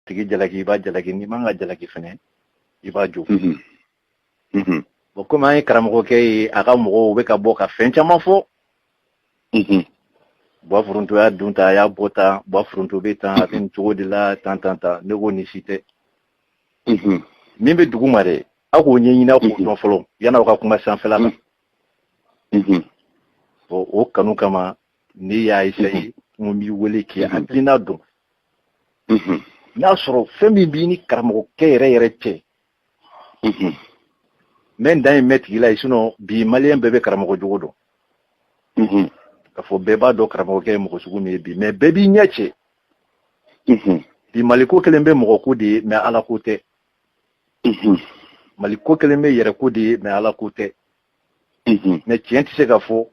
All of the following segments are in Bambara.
tigi jalaki i b'a jalaki n'i man ka jalaki fɛnɛ i b'a jo mhm. mhm. bɔn komi an ye karamɔgɔkɛ ye a ka mɔgɔw u bɛ ka bɔ ka fɛn caman fɔ mhm. bwa foronto y'a dun ta a y'a bɔ tan bwa foronto bɛ tan a bɛ nin cogo de la tan tan tan ne ko nin si tɛ min bɛ dugu ma dɛ aw k'o ɲɛɲini aw k'o dɔn fɔlɔ yanni aw ka kuma sanfɛla la o kanu kama ne y'a essayer n b'i wele k'i hakilina dɔn n'a sɔrɔ fɛn min b'i ni karamɔgɔkɛ yɛrɛ yɛrɛ cɛ mɛ n dan ye mɛn tigi la ye sinɔn bi maliyɛn bɛɛ bɛ karamɔgɔ jogo dɔn ka fɔ bɛɛ b'a dɔn karamɔgɔkɛ ye mɔgɔ sugu min ye bi mɛ bɛɛ b'i ɲɛ cɛ bi mali ko kɛlen bɛ mɔgɔ ko de ye mɛ ala ko tɛ mali ko kɛlen bɛ yɛrɛ ko de ye mɛ ala ko tɛ mɛ tiɲɛ tɛ se ka fɔ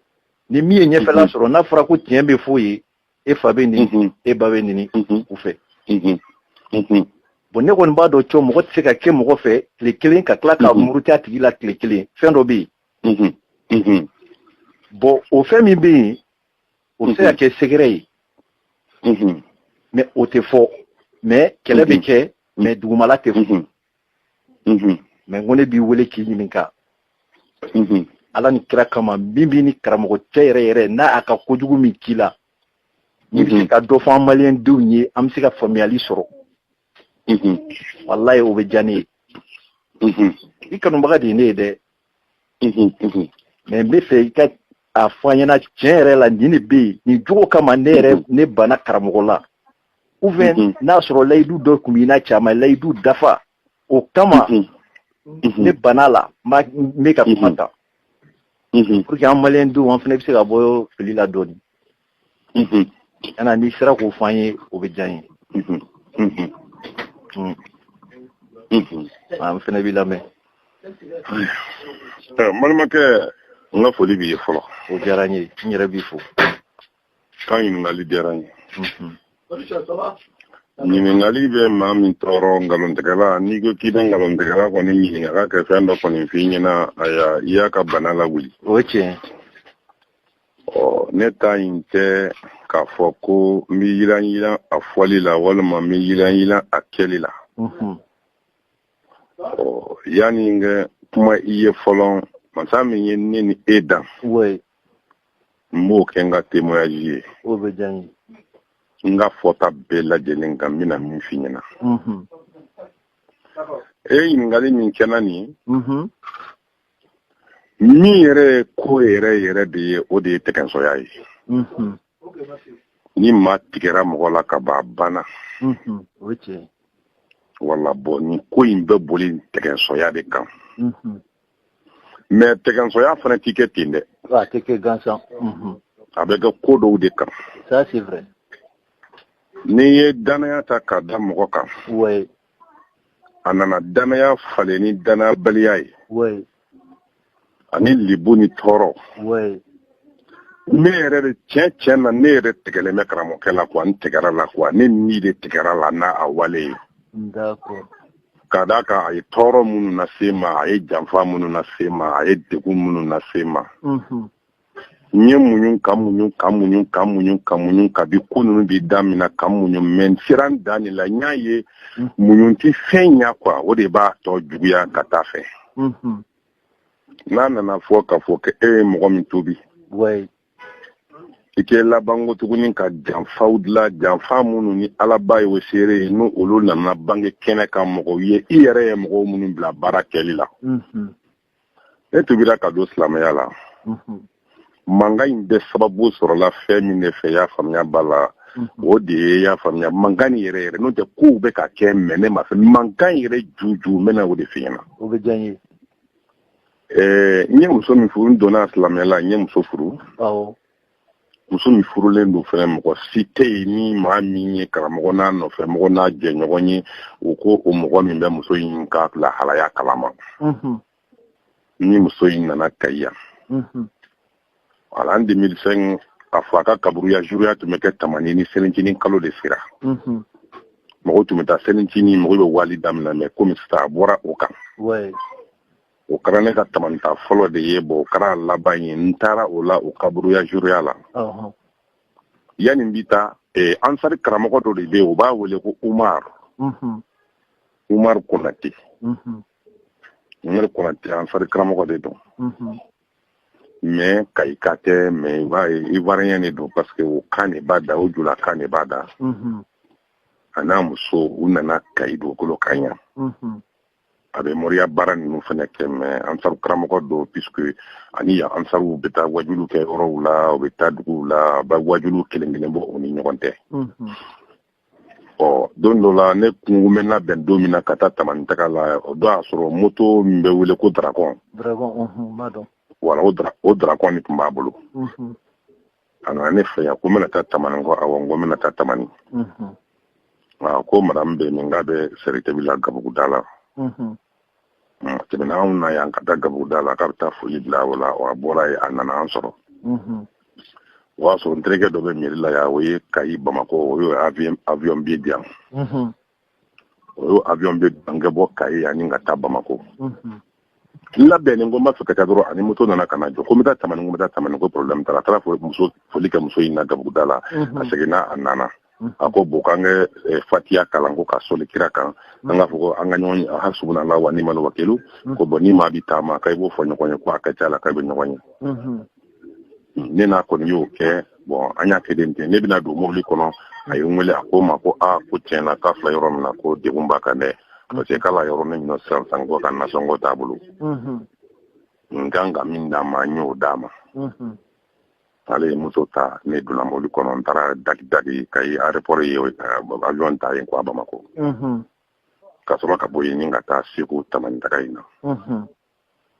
ni min ye ɲɛfɛla sɔrɔ n'a fɔra ko tiɲɛ bɛ fɔ ye e fa bɛ nɛni mhm. e ba bɛ nɛni mhm. u fɛ mhm. bon ne kɔni b'a dɔn cɔ mɔgɔ tɛ se ka kɛ mɔgɔ fɛ tile kelen ka tila ka muruta tigi la tile kelen fɛn dɔ bɛ yen bon o fɛn min bɛ yen o bɛ se ka kɛ sɛgɛrɛ ye mɛ o tɛ fɔ mɛ kɛlɛ bɛ kɛ mɛ dugumala tɛ fɔ mhm. mɛ n ko ne b'i wele k'i ɲininka mhm. ala ni kira kama min b'i ni karamɔgɔ cɛ yɛrɛ yɛrɛ n'a a ka kojugu min k'i la n'i bɛ se ka dɔ fɔ an maliyɛn denw ye an bɛ se ka faamuyali sɔrɔ walayi o bɛ diya ne ye i kanubaga de ye ne ye dɛ mɛ n bɛ fɛ i ka a fɔ an ɲɛna tiɲɛ yɛrɛ la nin de bɛ yen nin jogo kama ne yɛrɛ ne banna karamɔgɔ la ou bien n'a sɔrɔ layidu dɔ tun b'i n'a cɛ a ma layidu dafa o kama ne banna a la n bɛ ka kuma tan pour que an maliyɛn denw an fana bɛ se ka bɔ fili la dɔɔnin yana n'i sera k'o fɔ an ye o bɛ diya n ye an fana b'i lamɛn balimakɛ n ka foli b'i ye fɔlɔ o diyara n ye n yɛrɛ b'i fo ka ɲininkali diyara n ye ɲininkali bɛ maa min tɔɔrɔ nkalontigɛla n'i ko k'i bɛ nkalontigɛla kɔni ɲininka k'a ka fɛn dɔ kɔni f'i ɲɛna a y'a i y'a ka bana lawuli o ye tiɲɛ ɔ ne ta in tɛ k'a fɔ ko n bɛ yiran yiran a fɔli la walima n bɛ yiran yiran a kɛli la ɔ yanni n ka kuma i ye fɔlɔ masa min ye ne ni e dan n b'o kɛ n ka témoignage ye o bɛ diya n ye n ka fɔta bɛɛ lajɛlen kan n bɛna min f'i ɲɛna e ye ɲininkali min kɛ n na nin min yɛrɛ ye ko yɛrɛ yɛrɛ de ye o de ye tɛgɛnsɔya ye ni maa tigɛra mɔgɔ la ka ban a banna voilà bon nin ko in bɛɛ boli tɛgɛnsɔya de kan mais tɛgɛnsɔya fana tɛ kɛ ten dɛ a tɛ kɛ gansan a bɛ kɛ ko dɔw de kan n'i ye dannaya ta k'a da mɔgɔ kan a nana dannaya falen ni dannayabaliya ye ani libu ni tɔɔrɔ ne yɛrɛ de tiɲɛ tiɲɛ na ne yɛrɛ tigɛlen bɛ karamɔgɔkɛ la quoi n tigɛra a la quoi ne ni de tigɛra a la n'a a wale ye Ka d'a kan a ye tɔɔrɔ minnu lase n ma, a ye janfa minnu lase n ma, a ye degun minnu lase n ma. Unhun. N ye muɲu ka muɲu ka muɲu ka muɲu ka muɲu kabi ko ninnu bi daminɛ ka muɲu mais n sera n dan de la. N y'a ye muɲu tɛ fɛn ɲɛ quoi o de b'a tɔ juguya ka taa fɛ. Unhun. N'a nana fɔ ka fɔ k'e ye mɔgɔ min tuubi. Ouais. i kɛ labanko tuguni ka janfaw dilan janfa minnu ni alaba ye o seere ye n' olu nana bange kɛnɛ kan mɔgɔw ye i yɛrɛ ye mɔgɔw minnu bila baara kɛli la mhm. ne tuubira ka don silamɛya la mhm. mankan in bɛɛ sababu sɔrɔla fɛn min de fɛ y'a faamuya b'a la mhm. o de ye y'a faamuya mankan nin yɛrɛ yɛrɛ n'o tɛ kow bɛ ka kɛ mais ne ma fɛ mankan yɛrɛ juju n bɛna o de f'i ɲɛna Ɛɛ n ye muso min furu n donna silamɛya la n ye muso furu muso min furulen don fɛnɛ mɔgɔ si tɛ yen ni maa min ye karamɔgɔ n'a nɔfɛ mɔgɔ n'a jɛɲɔgɔn ye o ko o mɔgɔ min bɛ muso in ka lahalaya kalama ni muso in nana Kayi yan voilà en 2005 a fɔ a ka kaburuya juruya tun bɛ kɛ tamani ni selincinin kalo de sera mhm. mɔgɔw tun bɛ taa selincinin mɔgɔw bɛ wali daminɛ mais komi sisan a bɔra o kan o kɛra ne ka tamani taa fɔlɔ de ye bon o kɛra a laban ye n taara o la o kaburuya juruya la yanni n bi taa eh, ansari karamɔgɔ dɔ de bɛ yen o b'a wele ko umar mhm. umar konate umar konate ansari karamɔgɔ de don mhm. mais kayika tɛ mais ivoirien de don parce que o kan de b'a da o julakan de b'a da mhm. a n'a muso u nana kayi dugukolo kan yan mhm. a bɛ moriya baara ninnu fana kɛ mais ansaru karamɔgɔ don puisque ani yan ansaruw bɛ taa wajulu kɛ yɔrɔw la u bɛ taa duguw la a bɛ wajulu kelen kelen bɔ u ni ɲɔgɔn tɛ mhm. ɔ don dɔ la ne kun ko n bɛ labɛn don min na ka taa tamani taga la o don y'a sɔrɔ moto min bɛ wele ko darakɔn wala o darakɔn de tun b'a bolo a nana ne fɛ yan ko n bɛna taa tamani ko awɔ n ko n bɛna taa tamani a ko madamu bɛ min k'a bɛ sɛritebi la gabuguda la tɛmɛna anw na yan ka taa gabuguda la k'a bɛ taa foli bila o la wa a bɔra yen a nana an sɔrɔ o y'a sɔrɔ n terikɛ dɔ bɛ mairie la yan o ye kayi bamakɔ o y'o avion billet di yan o y'o avion billet an ka bɔ kayi ani ka taa bamakɔ n labɛnnen ko n b'a fɛ ka taa dɔrɔn ani moto nana ka na jɔ ko n bɛ taa tamani ko n bɛ taa tamani ko problème t'a la a taara muso foli kɛ muso in na gabuguda la a seginna a nana a ko bon k'an kɛ eh, fatiya kalan ko ka soli kira kan an k'a fɔ ko an ka ɲɔgɔn ye hasbunallahu wa ni'mal wakilu ko bon ni maa bi taama ka i b'o fɔ ɲɔgɔn ye ko a ka ca la k'a bɛ ɲɔgɔn ye hmm, ne n'a kɔni y'o kɛ bon an y'a kɛ den ten ne bɛna don mobili kɔnɔ a ye n wele a ko n ma ko a ko tiɲɛ na k'a filɛ yɔrɔ min na ko degun b'a kan dɛ parce que k'ala yɔrɔ ne minɛ sisan san ko ka nasɔngɔ t'a bolo n kan ka min d'a ma n y'o d'a ma ale ye moto ta ne donna mobili kɔnɔ n taara dagi dagi kayi aéroport ye avion ta yen kuwa bamakɔ ka sɔrɔ ka bɔ yen ni ka taa segu tamani taga in na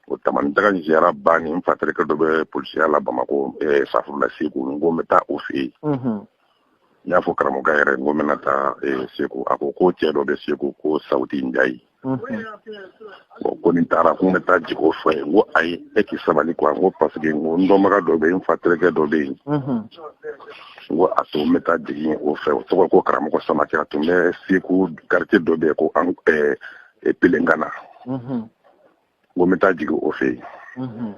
o tamani taga in ziyara banni n fa terikɛ dɔ bɛ polisiya la bamakɔ safurula segu n ko n bɛ taa o fɛ yen n y'a fɔ karamɔgɔkɛ yɛrɛ n ko n bɛna taa eh, segu a ko ko cɛ dɔ bɛ segu ko sauti njayi bon ko ni n taara ko n bɛ taa jigin o fɛ yen n ko ayi e k'i sabali kuwa n ko paseke n ko n dɔnbaga dɔ bɛ yen n fa terikɛ dɔ bɛ yen n ko a to n bɛ taa jigin yen o fɛ o tɔgɔ ko karamɔgɔ samake a tun bɛ segu karitiye dɔ bɛ yen ko an eh, eh, pelengana n ko n bɛ taa jigin o fɛ yen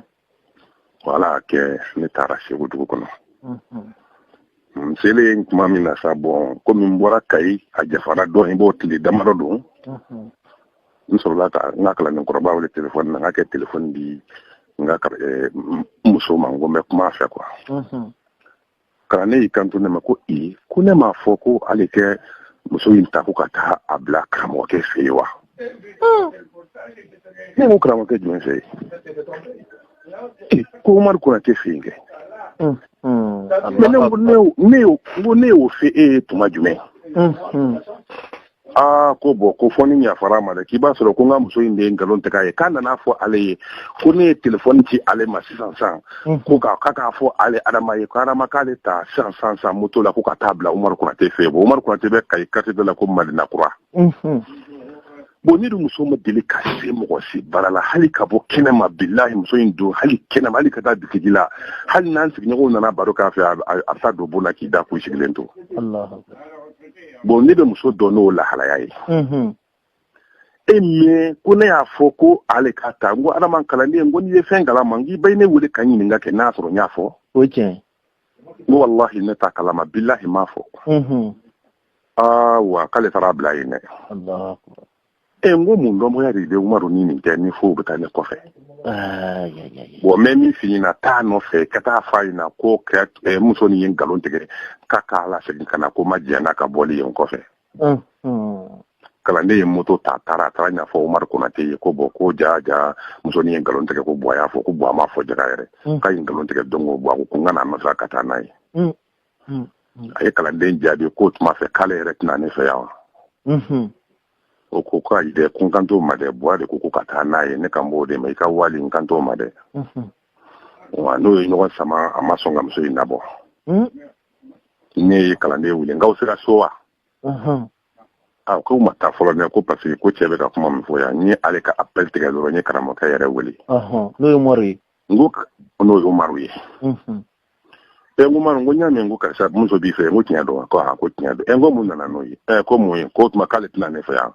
wala kɛ ne taara segu dugu kɔnɔ n selen tuma min na sa bon komi n bɔra kayi a janfara dɔɔnin bon tile damadɔ don n sɔrɔla ka n ka kalanden kɔrɔba wele telefɔni na n k'a kɛ telefɔni di n ka muso ma n ko n bɛ kuma a fɛ kuwa kalanden y'i kanto ne ma ko i ko ne m'a fɔ ko ale kɛ muso in ta ko ka taa a bila karamɔgɔkɛ fɛ yen wa ne ko karamɔgɔkɛ jumɛn fɛ yen ko umaru konate fɛ yen kɛ ne ko ne y'o fɔ e ye tuma jumɛn aa ko bon ko fo n'i yafara n ma dɛ k'i b'a sɔrɔ ko n ka muso in de ye nkalon tigɛ a ye k'a nan'a fɔ ale ye ko ne ye telefɔni ci ale ma sisan san ko k'a ka k'a fɔ ale adama ye ko adama k'ale ta sisan san san moto la ko ka taa a bila umaru konate fɛ bon umaru konate bɛ kayi karitiye dɔ la ko madina kura bon ne dun muso ma deli ka se mɔgɔ si bara la hali ka bɔ kɛnɛ ma bilahi muso in don hali kɛnɛ ma hali ka taa bitigi la hali n'an sigiɲɔgɔnw nana baro k'a fɛ a bɛ taa don bon na k'i da k'u sigilen to bon ne bɛ muso dɔn n'o lahalaya ye e mɛ ko ne y'a fɔ ko ale ka taa n ko adama kalanden ko n'i ye fɛn kalama k'i ba ne wele ka ɲininka kɛ n'a sɔrɔ n y'a fɔ o tiɲɛ n ko walahi ne t'a kalama bilahi n m'a fɔ aa wa k'ale taara bila yen dɛ ɛ n ko mun dɔnbaya de bɛ umaru ni nin cɛ ni fo u bɛ taa ne kɔfɛ bɔn n bɛ min f'i ɲɛna taa nɔfɛ ka taa f'a ɲɛna ko eh, musonin ye nkalon tigɛ ka k'a lasegin ka na ko n ma jɛn n'a ka bɔli ye n kɔfɛ kalanden ye moto ta taara a taara ɲɛfɔ umaru konate ye ko bɔn ko jaa jaa musonin ye nkalon tigɛ ko bɔn a y'a fɔ ko bɔn a m'a fɔ jaga yɛrɛ k'a ye nkalon tigɛ don ko bɔn a ko ko n ka n'a nɔfɛ ka taa n'a ye hmm. a ye kalanden jaabi k'o tuma fɛ k'ale yɛrɛ tɛ na ne fɛ yan wa hmm. o ko ko ayi dɛ ko n kan t'o ma dɛ buwa de ko ko ka taa n'a ye ne kan b'o de ma i ka wali n kan t'o ma dɛ hmm. wa n'o ye ɲɔgɔn sama a ma sɔn ka muso in nabɔ ne ye kalanden wele n k'aw sera so wa a k'u ma taa fɔlɔ dɛ ko parce que ko cɛ bɛ ka kuma min fɔ yan n ye ale ka appel tigɛ dɔrɔn n ye karamɔgɔkɛ yɛrɛ wele n'o ye umaru ye n ko n'o ye umaru ye ɛ n ko umaru n ko n y'a mɛn ko karisa muso b'i fɛ n ko tiɲɛ don wa a ko tiɲɛ don ɛ n ko mun nana n'o ye ɛ ko mun ye k'o tuma k'ale tɛ na ne fɛ yan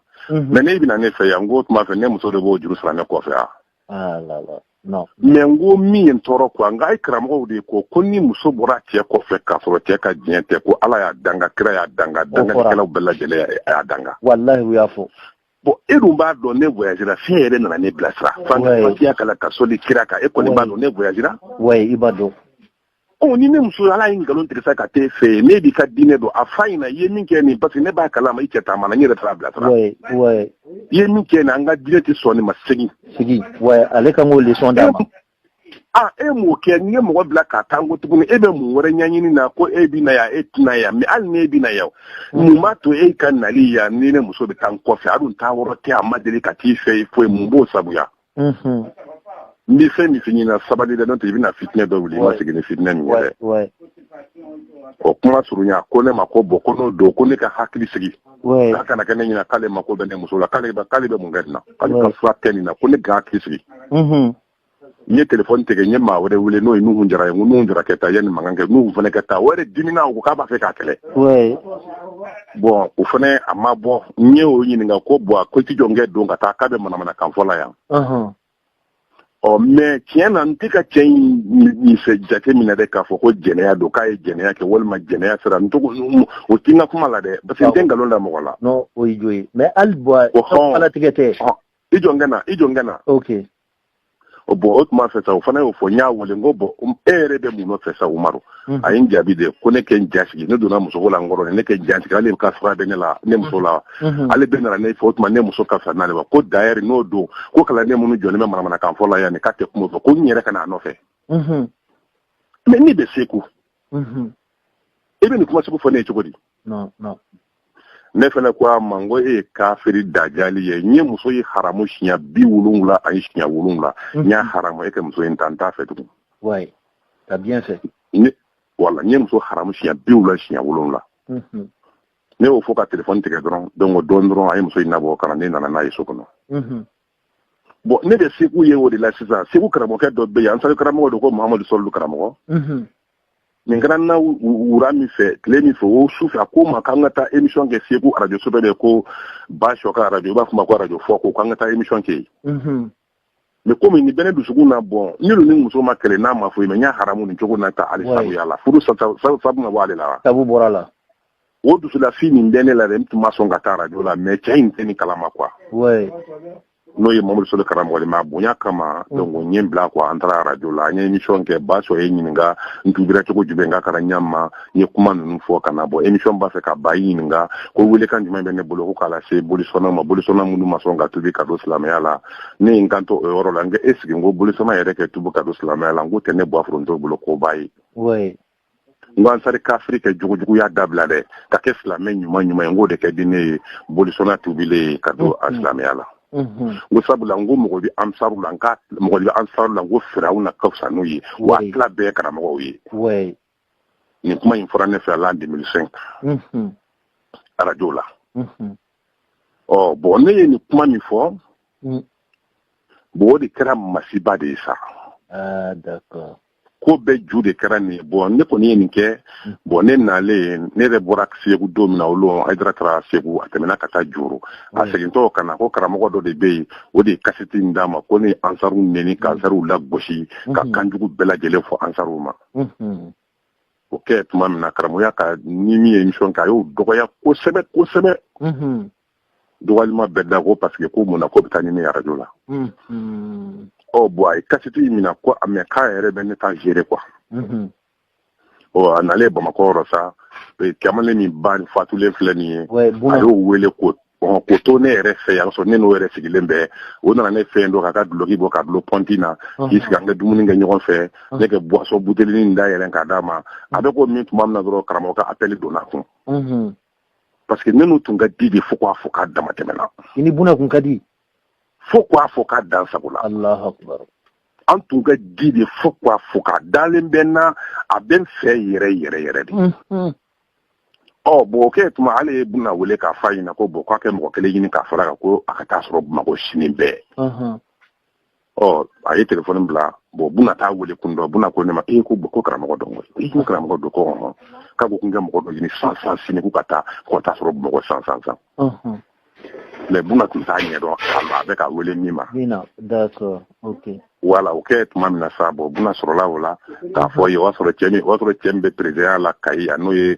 mɛ n'e bɛ na ne fɛ yan n k'o tuma fɛ ne muso de b'o juru sara ne kɔfɛ yan ah, mɛ n ko min ye n tɔɔrɔ kuwa n k'aw karamɔgɔw de ko ko ni muso bɔra cɛ kɔfɛ k'a sɔrɔ cɛ ka diɲɛ tɛ ko ala y'a danga kira y'a danga danganikɛlaw bɛɛ lajɛlen a y'a danga walahi u y'a fɔ bɔn e dun b'a dɔn ne voyagera f'e yɛrɛ nana ne bilasira fatiya kalan ka soli kira kan e kɔni b'a dɔn ne voyagera i b'a dɔn ɔ ni ne muso hali a ye nkalon tigɛ sa ka t'e fɛ yen n'e b'i ka diinɛ dɔn a f'a ɲɛna i ye min kɛ nin parce que ne b'a kalama i cɛ taamana n yɛrɛ taar'a bilasira i ye min kɛ nin an ka diinɛ tɛ sɔn nin ma segin ale kan k'o leçon d'a ma aa e m'o kɛ n ye mɔgɔ bila k'a ta n ko tuguni e bɛ mun wɛrɛ ɲɛɲini na ko e bɛ na yan e tɛ na yan mɛ hali n'e bɛ na yan mm. mun b'a to e ka nali yan ni ne muso bɛ taa n kɔfɛ a dun taayɔrɔ tɛ a ma deli ka t'i fɛ i foyi mun b'o sabuya mm-hmm. n bɛ fɛn min f'i ɲɛna sabali dɛ n'o tɛ i bɛna fitinɛ dɔ wuli i ma sigi ni fitinɛ min ye dɛ o kuma surunya ko ne ma ko bɔn ko n'o don ko ne ka hakili sigi a kana kɛ ne ɲɛna k'ale mako bɛ ne muso la k'ale k'ale bɛ mun kɛ nin na k'ale ka fura kɛ nin na ko ne ka hakili sigi n ye telefɔni tigɛ n ye maa wɛrɛ wele n'o ye nuhun jara ye n ko nuhun jara kɛ taa yanni mankan kɛ nuhun fana kɛ taa o yɛrɛ dimina o ko k'a b'a fɛ k'a kɛlɛ bɔn o fana a ma bɔ n ye o ɲininka ko bɔn ko i t'i jɔ n kɛ don ka taa k'a bɛ manamanakan fɔ la yan ɔ mɛ tiɲɛ na n tɛ ka cɛ in fɛ jate minɛ dɛ k'a fɔ ko jɛnɛya don k'a ye jɛnɛya kɛ walima jɛnɛya sira n tɔgɔ o tɛ n ka kuma la dɛ parce que n tɛ nkalon da mɔgɔ la. non o ye jo ye mɛ hali bɔn ala tigɛ tɛ. i jɔ n ka na i jɔ n ka na. ok. bɔn o tuma fɛ sa o fana y'o fɔ n y'a wele n ko bɔn e yɛrɛ bɛ mun nɔfɛ sa umaru. Mhm. a ye n jaabi de ko ne kɛ n jasigi ne donna musoko la n kɔrɔ ne kɛ n jasigi ale ka fura bɛ ne la ne mhm. muso la mhm. ale bɛ nana ne fɛ o tuma ne muso ka fisa n'ale wa ko d'ailleurs n'o don ko kalanden minnu jɔlen bɛ manamanakan fɔ la yan nin k'a tɛ kuma fɔ ko n yɛrɛ ka n'a nɔfɛ mais ne bɛ seku i bɛ nin kuma sugu fɔ ne ye cogo di ne fana ko a ma n ko e ye kafiri dajali ye n ye muso ye haramu siɲɛ bi wolonwula ani siɲɛ wolonwula mhm. n y'a haramu e ka muso in ta n t'a fɛ tugun voilà n ye muso haramu siɲɛ bi wolonwula siɲɛ wolonwula mhm. ne y'o fɔ ka telefɔni tigɛ dɔrɔn donc o dɔɔni dɔrɔn a ye muso in nabɔ ka na ne nana n'a ye so kɔnɔ mhm. bon ne bɛ segu yen o de la sisan segu karamɔgɔkɛ dɔ bɛ yen ansari karamɔgɔ don ko mahamadu sɔlilu karamɔgɔ nin kɛra n na wura min fɛ tile min fɛ o su fɛ a ko n ma k'an ka taa émission kɛ segu radio so dɔ bɛ ko basɔ ka radio u b'a fɔ ma ko radio foko k'an ka taa émission kɛ yen mais komi nin bɛ ne dusukun na bon ne ni muso ma kɛlɛ n'a ma foyi mais n y'a haramu nin cogo na ta ale sabuya la furu sabu ma bɔ ale la wa sabu bɔra la o dusulafin nin bɛ ne la dɛ n tun ma sɔn ka taa radio la mais cɛ in tɛ nin kalama quoi n'o ye mamadu soli karamɔgɔ ma bonya kama mm. donc n y'a bila quoi an taara radio la an ye émission kɛ basɔ ye n ɲininka n tubira cogo jumɛn ka kana ɲa ma n ye kuma ninnu fɔ ka na bɔ émission b'a fɛ ka ban a ye ɲininka ko welekan jumɛn bɛ ne bolo ko k'a lase bolisɔnnaw ma bolisɔnna minnu ma sɔn ka tubi ka don silamɛya la ne ye n kanto o yɔrɔ la n ko est-ce que n ko bolisɔnna yɛrɛ kɛ tubi ka don silamɛya la n k'o tɛ ne bɔ foronto bolo koba ye ansari kafiri kɛ jugujuguya dabila dɛ ka kɛ silamɛ ɲuman ɲuman ye n k'o de kɛ di ne ye bolisɔnna tubilen ye ka don silamɛya la ko sabula n ko mɔgɔ bɛ ansaru la n ko mɔgɔ bɛ ansaru la n ko firawuna ka fisa n'u ye wa tila bɛɛ karamɔgɔw ye nin kuma in fɔra ne fɛ l'an deux mille cinq arajo la ɔ bon ne ye nin kuma min fɔ bon o de kɛra masiba de ye sa ko bɛɛ ju de kɛra nin ye bon ne kɔni ye nin kɛ mm. bon ne nalen ne yɛrɛ bɔra segu don min na o don hayidara taara segu a tɛmɛna ka taa joro a mm. segintɔ ka na ko karamɔgɔ dɔ de bɛ yen o de ye kasiti in d'a ma ko ne ansaru neni ka mm. ansaruw lagosi ka mm-hmm. kanjugu bɛɛ lajɛlen fɔ ansaruw ma mm-hmm. o kɛ tuma min na karamɔgɔya ka ni min ye émission kɛ a y'o dɔgɔya kosɛbɛ kosɛbɛ mm-hmm. dɔgɔyalima bɛɛ da ko parce que ko mun na k'o bɛ taa ɲini arajo la ɔ bon a ye kasiti in minɛ ko mais k'a yɛrɛ bɛ ne ta gérer quoi a nalen bamakɔ yɔrɔ sa kamalen min ba fatulen filɛ nin ye a y'o wele quoi k'o to ne yɛrɛ fɛ yan sɔrɔ ne n'o yɛrɛ sigilen bɛ o nana ne fɛn don ka ka duloki bɔ k'a dulon pɔnti na k'i sigi an ka dumuni kɛ ɲɔgɔn fɛ ne kɛ boisson butelinin da yɛlɛ k'a d'a ma a bɛ k'o min tuma min na dɔrɔn karamɔgɔ ka appel donn'a kun parce que ne n'u tun ka di de fo k'a fɔ k'a dama tɛmɛna i ni buna kun ka di fo k'a fɔ k'a dan sago la alahu akbar an tun ka di de fo k'a fɔ k'a dalen bɛ n na a bɛ n fɛ yɛrɛ yɛrɛ yɛrɛ de mhm. ɔ bon o kɛ tuma ale ye buna wele k'a f'a ɲɛna ko bon k'a kɛ mɔgɔ kelen ɲini k'a fara kan ko a ka t'a sɔrɔ bamakɔ sini bɛɛ mhm. ɔ a ye telefɔni bila bon buna t'a wele kun dɔn buna ko ne ma ee ko ko karamɔgɔ don koyi ko karamɔgɔ don ko hɔn k'a ko kun kɛ mɔgɔ dɔ ɲini san san sini ko ka taa ko t'a sɔrɔ bamakɔ san san san mais buna tun t'a ɲɛ dɔn a bɛ ka wele min ma wala o kɛ tuma min na sa bon buna sɔrɔla o la k'a fɔ ye o y'a sɔrɔ cɛ o y'a sɔrɔ cɛ min bɛ perezidanya la kayi a n'o ye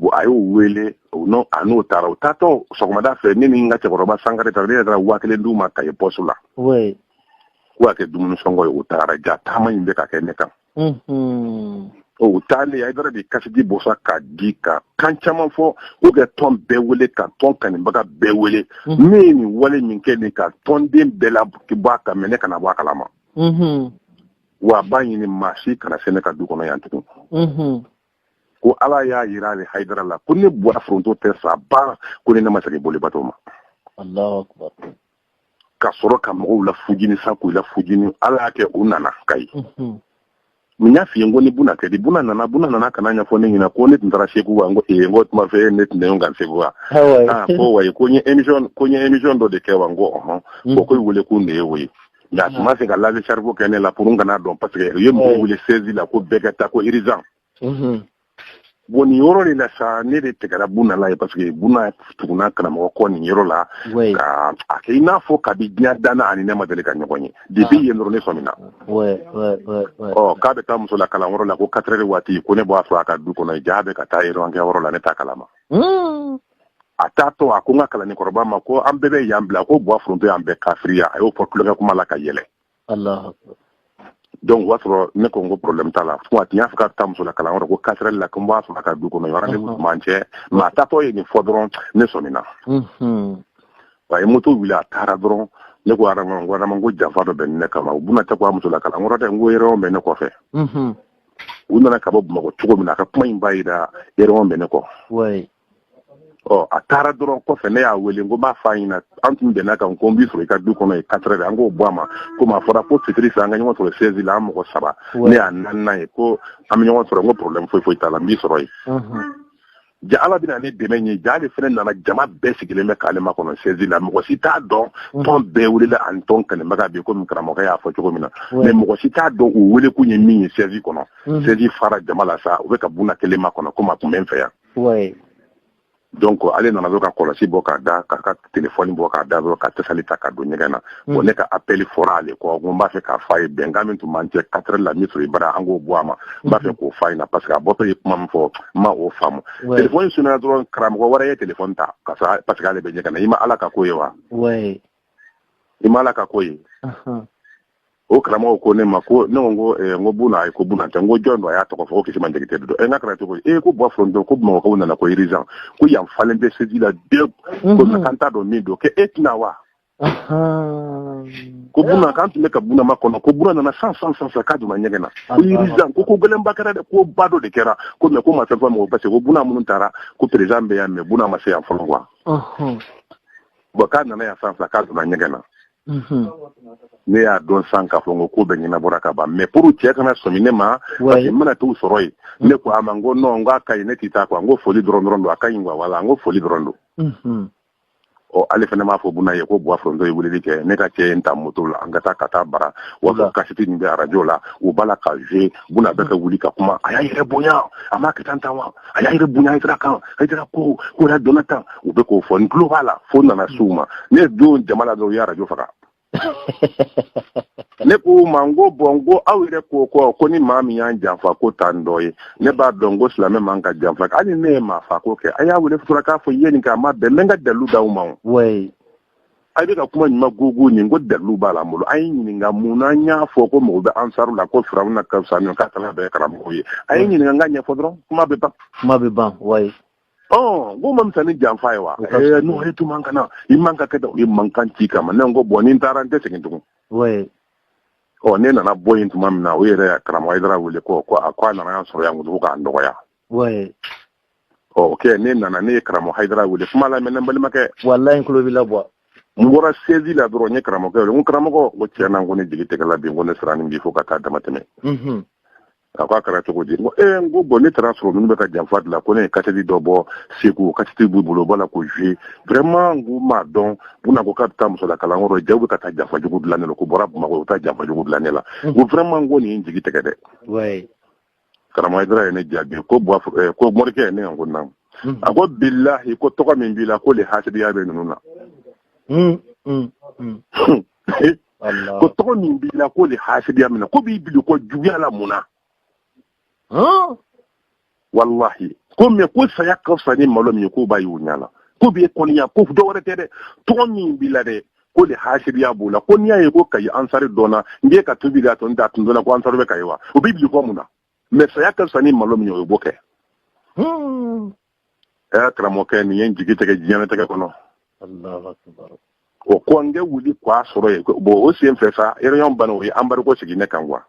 bon a y'o wele a n'o taara u taatɔ sɔgɔmada fɛ ne ni n ka cɛkɔrɔba sankare ta ne yɛrɛ taara waa kelen d'u ma kayi poste la ko ka kɛ dumuni sɔngɔ ye u taara ja taama in bɛ ka kɛ ne kan o taalen haidara de kasɛti bɔ sa k'a di ka kan caman fɔ ko kɛ tɔn bɛɛ wele ka tɔn kanibaga bɛɛ wele ne ye nin wale min kɛ nin ka tɔnden bɛɛ labɔ a kan mais ne kana bɔ a kalama wa a b'a ɲini maa si kana se ne ka du kɔnɔ yan tugun ko ala y'a yira ale haidara la ko ne buwa foronto tɛ sa ba ko ne ne ma segin bolibato ma ka sɔrɔ ka mɔgɔw la fujini sa k'u la fujini ala y'a kɛ u nana kayi mhm. min y'a f'i ye ko ni buna kɛ di buna nana buna nana ka n'a ɲɛfɔ ne ɲɛna ko ne tun taara segu wa n ko ee n ko tuma fɛ ne tun tɛ kan segu wa ah, ko wayi ko n ye émission ko n ye émission dɔ de kɛ wa n ko ɔhɔn ko ko wele ko nin ye o ye nka a tun ma se ka lave cerveau kɛ ne la pour n kan'a dɔn parce que u ye mɔgɔ wele siège la ko bɛɛ ka taa ko urgent bon nin yɔrɔ de la sa ne de tigɛra buna la ye parce que buna tugunna karamɔgɔ kɔ nin yɔrɔ la ka a kɛ i n'a fɔ kabi diɲɛ danna ani ne ma deli ka ɲɔgɔn ye depuis yen dɔrɔn ne sɔmina ɔ k'a bɛ taa muso la kalan yɔrɔ la ko quatre heures waati ko ne b'a sɔrɔ a ka du kɔnɔ ja bɛ ka taa réunion kɛ yɔrɔ la ne t'a kalama a t'a to a ko n ka kalanden kɔrɔba ma ko an bɛɛ bɛ yan bila ko buwa foronto y'an bɛɛ kafiriya a y'o fɔ tulonkɛ kuma la ka yɛlɛ donc o y'a sɔrɔ ne ko n ko problème t'a la fo a tun y'a fɔ ka taa muso la kalan yɔrɔ ko quatre heures la ko n b'a sɔrɔ a ka du kɔnɔ rendez-vous tun b'an cɛ mais a taatɔ ye nin fɔ dɔrɔn ne sɔmina a ye moto wuli a taara dɔrɔn ne ko adama n ko adama ko janfa dɔ bɛ ne kama buna tɛ ka taa muso la kalan yɔrɔ dɛ n ko yɛrɛw bɛ ne kɔfɛ u nana ka bɔ bamakɔ cogo min na a ka kuma in b'a yira yɛrɛw bɛ ne kɔ ɔ a taara dɔrɔn kɔfɛ ne y'a wele n ko b'a fɔ a ɲɛna an tun bɛnna kan ko n b'i sɔrɔ i ka du kɔnɔ ye quatre heures an k'o bɔ a ma komi a fɔra ko fitiri fɛ an ka ɲɔgɔn sɔrɔ siège la an mɔgɔ saba ne y'a naaninan ye ko an bɛ ɲɔgɔn sɔrɔ n ko problème foyi foyi t'a la n b'i sɔrɔ yen ja ala bɛna ne dɛmɛ ye ja ale fana nana jama bɛɛ sigilen bɛ k'ale makɔnɔ siège la mɔgɔ si t'a dɔn mm. tɔn bɛɛ welela ani tɔn kanibaga bɛɛ komi karamɔgɔ y'a fɔ cogo min na mais mɔgɔ si t'a dɔn u wele kun ye min ye siège kɔnɔ siège mm. fara jama la sa u bɛ ka buna kelen makɔnɔ komi a tun bɛ n fɛ yan oui donc ale nana dɔrɔn ka kɔlɔsi bɔ k'a da k'a ka telefɔni bɔ k'a da dɔrɔn ka tasali ta ka don ɲɛgɛn na mm. bon ne ka appel fɔra ale kɔ ko n b'a fɛ k'a fɔ a ye bɛnkan min tun b'an cɛ quatre heures la min sɔrɔ i bara an k'o bɔ a ma n b'a fɛ mm. k'o fɔ a ɲɛna parce que a bɔtɔ ye kuma min fɔ n ma o faamu telefɔni sonnena dɔrɔn karamɔgɔ wɛrɛ ye telefɔni ta ka sɔrɔ parce que ale bɛ ɲɛgɛn na i ma ala ka ko ye wa i ma ala ka ko ye o karamɔgɔ ko ne ma ko ne ko eh, ko buna ayi ko buna tɛ n ko jɔn don a y'a tɔgɔ fɔ ko kisima jakite don ɛ n k'a kɛra cogo e ko buwa foronto ko bamakɔkaw nana ko urgent ko yan falen bɛ seji la dɛ ko mhm. k'an t'a dɔn min don k'e tɛ na wa ko buna k'an tun bɛ ka buna makɔnɔ ko buna nana sisan sisan k'a donna ɲɛgɛn na ko urgent ko ko gɛlɛnba kɛra dɛ koba dɔ de kɛra ko mais ko ma fɛn fɔ mɔgɔ parce que ko buna minnu taara ko président bɛ yan mais buna ma se yan fɔlɔ wa bon k'a nana yan sisan k'a donna ɲɛgɛn na mhm. ne y'a dɔn sisan k'a fɔ ko ko bɛɛ ɲɛnabɔra ka ban mais pour cɛ kana sɔmi ne ma parce que n bɛna t'u sɔrɔ yen mhm. ne ko a ma n ko non n k'a ka ɲi ne tɛ taa quoi n ko foli dɔrɔn dɔrɔn don a ka ɲi quoi voilà n ko foli dɔrɔn don mhm. ɔ ale fana m'a fɔ buna ye ko buwa foronto ye weleli kɛ ne ka cɛ ye n ta moto la an ka taa ka taa bara wa sɔrɔ kasɛti min bɛ arajo la u b'a la ka jouer buna bɛ ka wuli ka kuma a y'a yɛrɛ bonya a m'a kɛ tan tan wa a y'a yɛrɛ bonya hayidara kan hayidara ko yɛrɛ donna tan u bɛ k'o fɔ n tulo b'a la fo n nana se u ma ne don jama la dɔrɔn u ye arajo faga ne ko u ma n ko bon n ko aw yɛrɛ ko kɔ ko ni maa min y'an janfa k'o t'an dɔ ye ne b'a dɔn ko silamɛ man ka janfa hali ne ye maafako kɛ a y'a wele fura k'a fɔ i ye nin kɛ a ma bɛn n bɛ n ka dalu d'aw ma o a bɛ ka kuma ɲuman gogo nin ko dalu b'a la n bolo a ye ɲininka mun n'an y'a fɔ ko mɔgɔw bɛ ansaru la ko firawuna ka fisa ka kalan bɛɛ karamɔgɔ ye a ye ɲininka n k'a ɲɛfɔ dɔrɔn kuma bɛ ban kuma bɛ ban wa ɔ k'o man fisa ni janfa ye wa n'o ye tun kana i man ka kɛ da i mankan ci kama ne ko bon ni n taara n tɛ segin tugun ɔ ne nana bɔ yen tuma min na o yɛrɛ karamɔgɔ hayidara wele ko a ko a nana yan sɔrɔ yan ko k'a nɔgɔya ɔ ok ne nana ne ye karamɔgɔ hayidara wele kuma lamɛn ne balimakɛ walayi n tulo b'i la bon n bɔra sezi la dɔrɔn n ye karamɔgɔkɛ wele n ko karamɔgɔ n ko tiɲɛ na n ko ne jigi tɛgɛla bi n ko ne siranna bi fo ka taa dama tɛmɛ mhm. a ko a kɛra cogo di n ko ee n ko bon ne taara a sɔrɔ ninnu bɛ ka janfa dilan ko ne ye kasɛti dɔ bɔ segu kasɛti b'u bolo u b'a la k'o jouer vraiment n ko n m'a dɔn buna ko k'a bɛ taa musola kalanyɔrɔ jaa u bɛ ka taa janfa jugu dilan ne la k'u bɔra bamakɔ u bɛ taa janfa jugu dilan ne la n ko vraiment n ko nin ye n jigi tɛgɛ dɛ karamɔgɔ hayidara ye ne jaabi ko eh, ko morikɛ ne yan ko naamu hmm. a ko bilahi ko tɔgɔ min b'i la k'o le hasidiya bɛ ninnu na hmm, hmm, ko tɔgɔ min b'i la k'o le hasidiya minɛ k'u b'i bili kojuguya la mun na walahi ko mais ko saya ka fisa ni malo min ye k'o b'a y'u ɲa la k'u b'i kɔniya ko dɔ wɛrɛ tɛ dɛ tɔgɔ min b'i la dɛ ko le hasidiya b'u la ko n'i y'a ye ko kayi ansari dɔnna n ye ka tubi da tɔ n da tun dɔnna ko ansari bɛ kayi wa o bɛ bili ko mun na mais saya ka fisa ni malo min ye o b'o kɛ hmm. ɛ karamɔgɔkɛ nin ye n jigi tigɛ diɲɛnatigɛ kɔnɔ o ko n kɛ wuli k'a sɔrɔ ye bon o sen fɛ sa réunion banna u ye embargo sigi ne kan quoi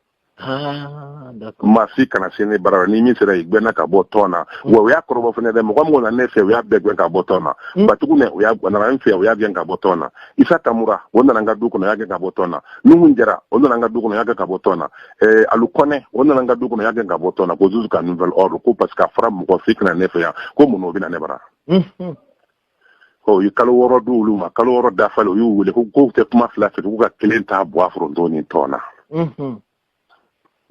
Ah, maa si kana se ne bara ni min sera i gɛnna ka bɔ tɔn na mm. wa u y'a kɔrɔbɔ fana dɛ mɔgɔ mɔgɔ na ne fɛ u y'a bɛɛ gɛn ka bɔ tɔn na mm. batugu ne o nana n fɛ u y'a gɛn ka bɔ tɔn na isa tamura o nana n ka du kɔnɔ u y'a gɛn ka bɔ tɔn na nuhun jara o nana n ka du kɔnɔ u y'a gɛn ka bɔ tɔn na ɛɛ eh, alu kɔnɛ o nana n ka du kɔnɔ u y'a gɛn ka bɔ tɔn na ko jusqu'à nouvel ordre ko parce que a fɔra mɔgɔ si kana ne fɛ yan ko mun na o bɛ na ne bara mm-hmm. u ye kalo wɔɔrɔ di olu ma kalo wɔɔrɔ dafalen u y'u wele ko k'u tɛ kuma fila fɛ k'u ka kelen ta buwa foronto ni tɔn na mhm.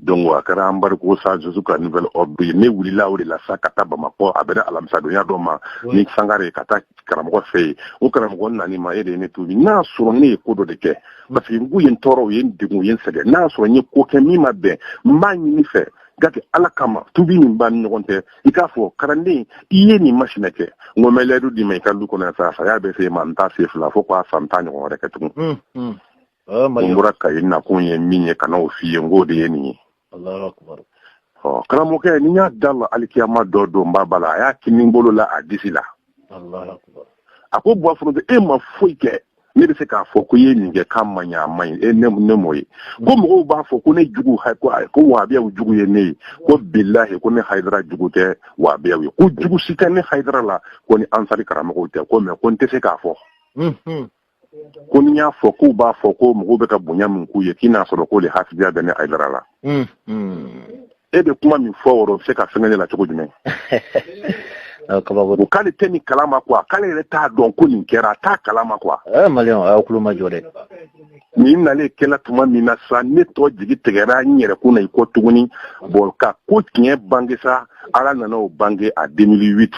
donc a kɛra embargo sa jusqu'à nouvel ordre ye ne wulila o de la sa ka taa bamakɔ a bɛnna alamisadonya dɔ ma ni sangare ka taa karamɔgɔ fɛ yen o karamɔgɔ nani ma e de ye ne tubi n'a sɔrɔ ne ye ko dɔ de kɛ mhm. parce que n k'u ye n tɔɔrɔ u ye n degun u ye n sɛgɛn n'a sɔrɔ n ye ko kɛ min ma bɛn n b'a ɲini i fɛ k'a kɛ ala kama tubi min b'a ni ɲɔgɔn tɛ i k'a fɔ kalanden i ye nin masina kɛ n ko n bɛ layidu d'i ma i ka du kɔnɔ sa saya bɛ se n ma n t'a se fila fo k'a san tan ɲɔgɔn wɛrɛ kɛ tugun n hmm, hmm. bɔra kayi n nakun ye min ye ka n'o f'i ye n k'o de ye nin ye karamɔgɔkɛ ni y'a da la alikiyama dɔ don ba ba la a y'a kini bolo la a disi la a ko buwa foronto e ma foyi kɛ ne bɛ se k'a fɔ ko i ye nin kɛ k'a man ɲi a man ɲi e ne ne m'o ye ko mɔgɔw b'a fɔ ko ne jugu ko ko wahabiyaw jugu ye ne ye ko bilahi ko ne hayidara jugu tɛ wahabiyaw ye ko jugu si tɛ ne hayidara la ko ni ansari karamɔgɔw tɛ ko mais ko n tɛ se k'a fɔ ko n'i y'a fɔ k'u b'a fɔ ko mɔgɔw bɛ ka bonya min k'u ye k'i n'a sɔrɔ ko le hasidiya bɛ ne hayidara la e bɛ kuma min fɔ o bɛ se ka fɛnkɛ ne la cogo jumɛn ko k'ale tɛ nin kala ma quoi k'ale yɛrɛ t'a dɔn ko nin kɛra a t'a kala ma quoi maliyɛnw a y'aw tulo majɔ dɛ nin nalen kɛla tuma min na sa ne tɔ jigi tigɛra n yɛrɛ kun na i kɔ tuguni bon ka ko tiɲɛ bange sa ala nana o bange a 2008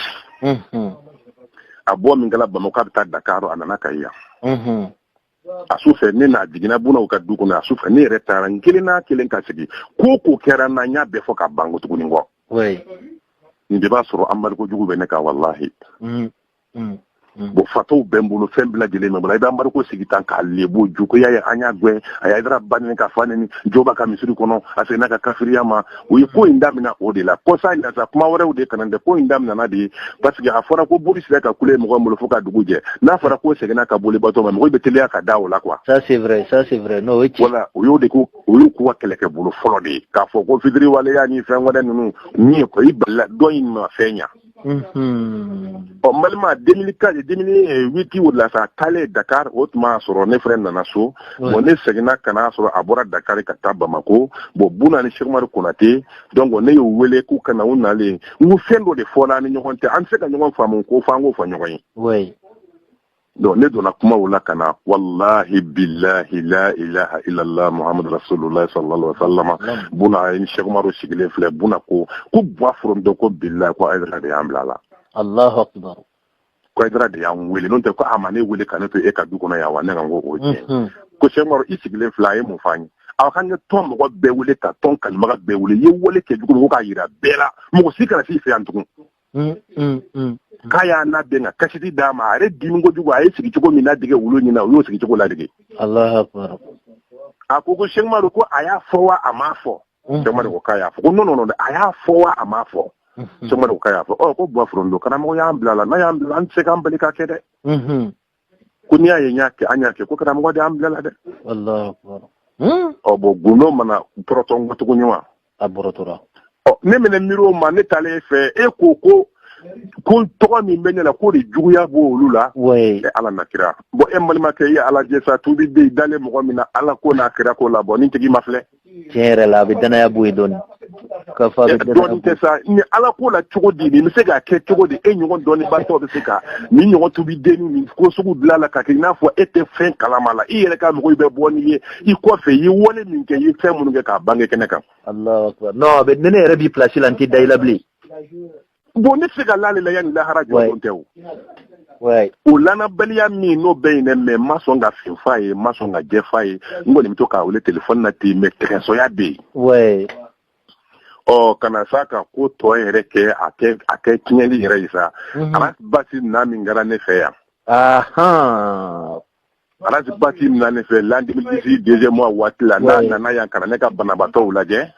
a bɔ min kɛra bamakɔ a bɛ taa dakaro a nana kayi yan a su fɛ ne n'a jiginna bunaw ka du kɔnɔ a su fɛ ne yɛrɛ taara n kelen n'a kelen ka sigi ko ko kɛra n na n y'a bɛɛ fɔ ka ban ko tuguni ko nin de b'a sɔrɔ embargo jugu bɛ ne kan walahi mm, mm, mm. bon fataw bɛ n bolo fɛn bɛɛ lajɛlen bɛ n bolo i bɛ embargo sigi tan k'a lebu u ko i y'a ye an y'a gɛn a ye hayidara ba neni k'a fa neni jo b'a ka misiri kɔnɔ a seginna ka kafiriya ma u ye ko in daminɛ o de la kɔsa in na sa kuma wɛrɛw de ka na dɛ ko in daminɛna de ye parce que a fɔra ko boli sera ka kule mɔgɔ bolo fo ka dugu jɛ n'a fɔra ko seginna ka boli bato ma mɔgɔ bɛ teliya ka da o la quoi ça c'est vrai ça c'est vrai n'o ye tiɲɛ voilà o y'o de ko o y'u k'u ka kɛlɛkɛ bolo fɔlɔ de ye k'a fɔ ko fitiriwaleya ni fɛn wɛrɛ ninnu min ye ko i balila dɔ in ma fɛn ɲa ɔ balima deux mille huit o la sa taalen dakari o tuma y'a sɔrɔ ne fɛnɛ nana so bɔn ne seginna ka n'a sɔrɔ a bɔra dakari ka taa bamakɔ bɔn buna ni sɛkumari konatɛ donc ne y'u wele k'u ka na u nalen n ko fɛn dɔ de fɔra ni ɲɔgɔn tɛ an tɛ se ka ɲɔgɔn faamu ko fo an k'o fɔ ɲɔgɔn ye donc ne donna kuma la ka na walahi bilahi la ilaha ilala muhamadu rasulula salala salama buna ni sɛkumaro sigilen filɛ buna ko ko bɔ foronto ko bilahi ko ayidara de y'an bila la alahu akibaru ko ayidara de y'an wele n'o tɛ ko a ma ne wele ka ne to e ka du kɔnɔ yan wa ne ka kow tiɲɛ mhm. ko sɛkumaro i sigilen filɛ a ye mun f'an ye aw ka ne tɔn mɔgɔ bɛɛ wele ka tɔn kalimaga bɛɛ wele i ye wale kɛ jugu ko k'a yira bɛɛ la mɔgɔ si kana s'i fɛ yan tugun k'a y'a nabɛn ka kasiti d'a ma a yɛrɛ dimi kojugu a ye sigi cogo min ladege olu ɲɛ na u y'o sigi cogo ladege alahu akibaru a ko ko sɛkumari ko a y'a fɔ wa a m'a fɔ sɛkumari ko k'a y'a fɔ ko non non a y'a fɔ wa a m'a fɔ sɛkumari ko k'a y'a fɔ ɔ ko bɔ foronto karamɔgɔ y'an bila la n'a y'an bila an tɛ se k'an bali ka kɛ dɛ ko n'i y'a ye n y'a kɛ an y'a kɛ ko karamɔgɔ de y'an bila la dɛ hmm? ɔ bɔn gundo ma na bɔrɔtɔ n kɔ tuguni wa a bɔrɔtɔra ɔ ne mɛnɛ miiri o ma ne taalen e fɛ e ko ko ko tɔgɔ min bɛ ne la k'o de juguya b'o olu la e ala n'a kira bɔn e balimakɛ i ye ala jɛ sa tubi bɛ dalen mɔgɔ min na ala ko n'a kira ko la bɔn ni tigi ma filɛ tiɲɛ yɛrɛ la a bɛ dannaya bɔ yen dɔɔni ka fa bɛ dɔɔni tɛ sa ni ala ko la cogo di nin bɛ se k'a kɛ cogo di e ɲɔgɔn dɔnnibatɔ bɛ se ka nin ɲɔgɔn tubi denni nin ko sugu dilan la ka kɛ i n'a fɔ e tɛ fɛn kalama la i yɛrɛ ka mɔgɔw bɛ bɔ n'i ye i kɔfɛ i ye wale min kɛ i ye fɛn minnu kɛ k'a bange kɛnɛ kan. Alahu akibaru non a bɛ ni ne yɛrɛ b'i place la n tɛ da i la bilen. bon ne tɛ se ka la a la yanni lahara jɔdon tɛ o lanbaliya min n'o bɛ yen dɛ mais ma sɔn ka fin f'a ye ma sɔn ka jɛ f'a ye n kɔni bɛ to k'a wele téléphone na ten mais kɛsɔya bɛ yen ɔ ka na sa ka ko tɔ yɛrɛ kɛ a a kɛ tiɲɛli yɛrɛ ye sa mhm. arasibati na min kɛra ne fɛ yan arasibati nana ne fɛ l'an deux mille dix-huit deuxième mois waati la n'a nana yan ka na ne ka banabaatɔ lajɛ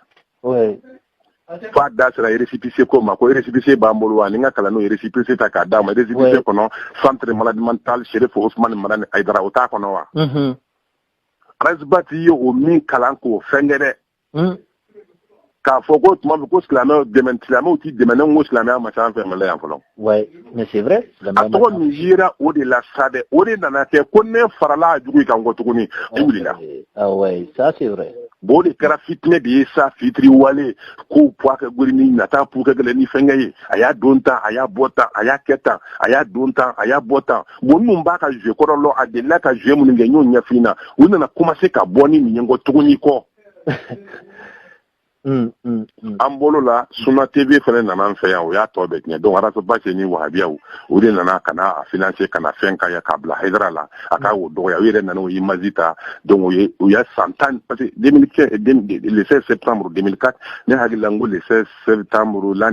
f'a da sera récépissé ko ma ko récépissé b'an bolo wa ni ka kalan n'o récépissé ta k'a d'a ma récépissé kɔnɔ centre maladie mentale serifu usumani madani ayidara o t'a kɔnɔ wa arasibati ye o min kalan k'o fɛnkɛ dɛ hmm. k'a fɔ ko tuma min ko silamɛw dɛmɛ silamɛw t'i dɛmɛ ne ko silamɛya ma ca an fɛ mali yan fɔlɔ mais c'est vrai a tɔgɔ min yera o de la sa dɛ o de nana kɛ ko ne farala a jugu kan kɔ tuguni ne wulila ça c'est vrai bon o de kɛra fitinɛ de ye sa fitiri wale kow puwa kɛ gori ni nata pu kɛ gɛlɛ ni fɛnkɛ ye a y'a don tan a y'a bɔ tan a y'a kɛ tan a y'a don tan a y'a bɔ tan bon minnu b'a ka jouer kɔrɔ lɔn a delila ka jouer minnu kɛ n y'o ɲɛfin na u nana commencer ka bɔ ni nin ye kɔ tuguni kɔ an bolo la suna TV fana nana an fɛ yan o y'a tɔ bɛɛ tiɲɛ donc ras bath ni wahabiyaw o de nana ka na a financer ka na fɛn kɛ yan k'a bila haidara la a ka o dɔgɔya u yɛrɛ nana o image ta donc o y'a san tan parce que le 16 septembre 2004 ne hakili la n ko le 16 septembre l'an